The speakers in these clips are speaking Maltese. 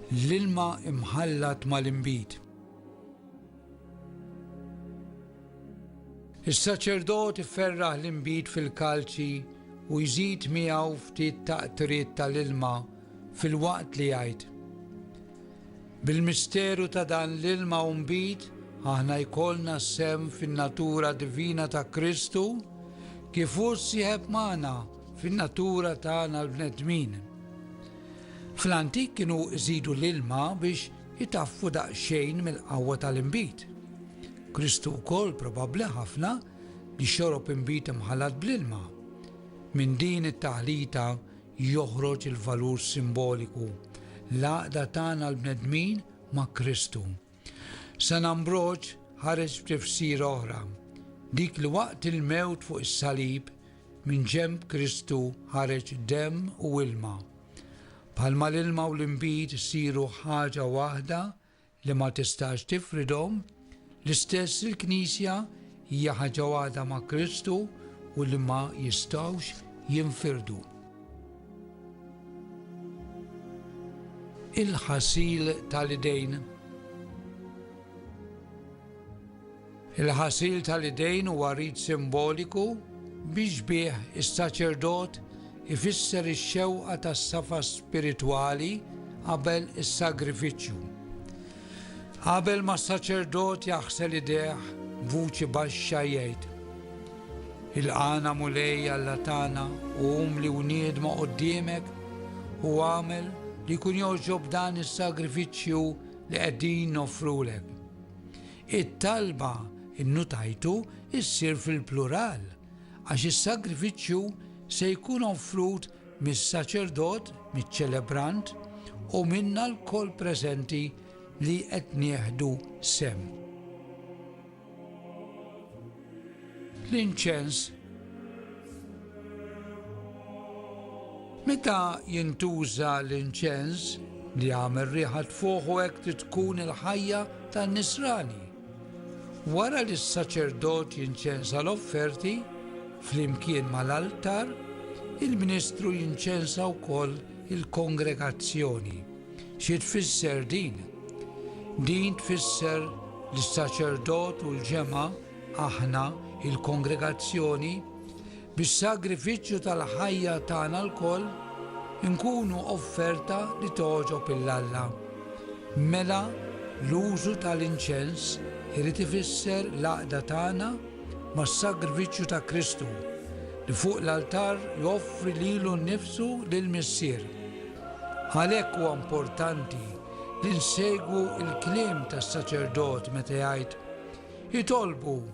L-ilma mħallat mal-inbid. Is-saċerdot iferraħ l-inbid fil-kalċi u jżid miegħu ftit ta' qtriet tal-ilma filwaqt li jgħid, Bil-misteru ta' dan l-ilma u nbid aħna jkollna sehem fin-natura divina ta' Kristu kif hu ssieħeb magħna fin-natura tagħna l-bnedmin. Fl-antik kienu żidu l-ilma biex itaffu daqsxejn mill-qawwa tal-inbid. Kristu wkoll probabbli ħafna li xorob inbid imħallat bl-ilma. Minn din it-taħlita joħroġ il-valur simboliku, l-għaqda tagħna l-bnedmin ma' Kristu. San Ambroġ ħareġ b'tifsira oħra, dik li waqt il-mewt fuq is-salib, minn ġenb Kristu ħareġ demm u ilma. Bħalma l-ilma u l-inbid isiru ħaġa waħda li ma tistax tifridhom, l-istess il-Knisja Hija ħaġa waħda ma' Kristu u li ma jistgħux jinfirdu. Il-ħasil tal-idejn Il-ħasil tal-idejn huwa rit simboliku biex bih is-saċerdot ifisser ix-xewqa tas-safa spiritwali qabel is-sagrifiċċju. Qabel ma s-saċerdot jaħsel idejh, b'vuċi baxxa jgħid, Ilqagħna Mulej Alla tagħna u umli u niedma quddiemek u agħmel li jkun jogħġob dan is-sagrifiċċju li qegħdin noffrulek. It-talba nnutajtu ssir fil-plural għax is-sagrifiċċju se jkun offrut mis-saċerdot, miċ-ċelebrant u minna lkoll preżenti li qed nieħdu sehem. L-inċens Meta jintuża l-inċens li għamel riħa tfuħu hekk tkun il-ħajja tan-nisrani. Wara li s-saċerdot jinċensa l-offerti, flimkien mal-altar, il-ministru jinċensa wkoll il-kongregazzjoni. Xi tfisser din? Din tfisser li s-saċerdot u l-ġemgħa, aħna, il-kongregazzjoni, Bis-sagrifiċċju tal-ħajja tagħna lkoll inkunu offerta li togħġob 'il Alla. Mela l-użu tal-inċens irid ifisser l-għaqda tagħna mas-sagrifiċċju ta' Kristu, li fuq l-altar joffri lilu nnifsu lill-Missier. Għalhekk huwa importanti li nsegwu l-kliem tas-saċerdot meta jgħid, Itolbu!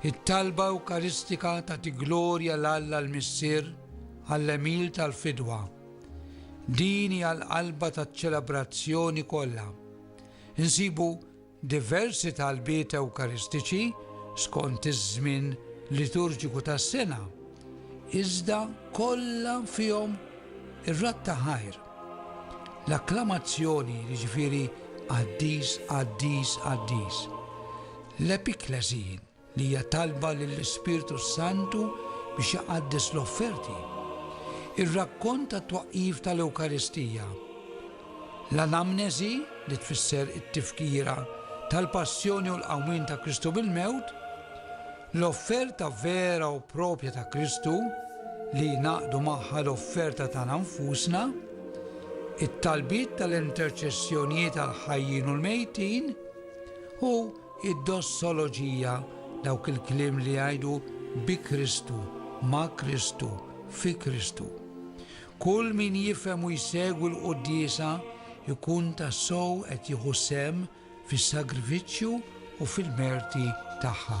It-talba Ewkaristika tagħti glorja 'l Alla l-Missier għall-għemil tal-fidwa. Din hija l-qalba taċ-ċelebrazzjoni kollha. Insibu diversi talbiet Ewkaristiċi skont iż-żmien liturġiku tas-sena, iżda kollha fihom ir-radd ta' ħajr. L-akklamazzjoni, jiġifieri Qaddis, Qaddis, Qaddis. L-epiklesi, li hija talba lill-Ispirtu s-Santu biex iqaddes l-offerti. Ir-rakkont tat-twaqqif tal-Ewkaristija. L-anamnesi, li tfisser it-tifkira tal-passjoni u l-qawmien ta' Kristu mill-mewt, L-offerta vera u proprja ta' Kristu, li jingħaqdu magħha l-offerta tagħna nfusna, it-talbiet tal-interċessjonijiet għall-ħajjin u l-mejtin, u d-dossoloġija, dawk il-kliem li jgħidu bi Kristu, ma' Kristu, fi Kristu. Kull min jifhem u jsegwi l-quddiesa jkun tassew qed jieħu sehem fis-sagrifiċċju u fil-merti tagħha.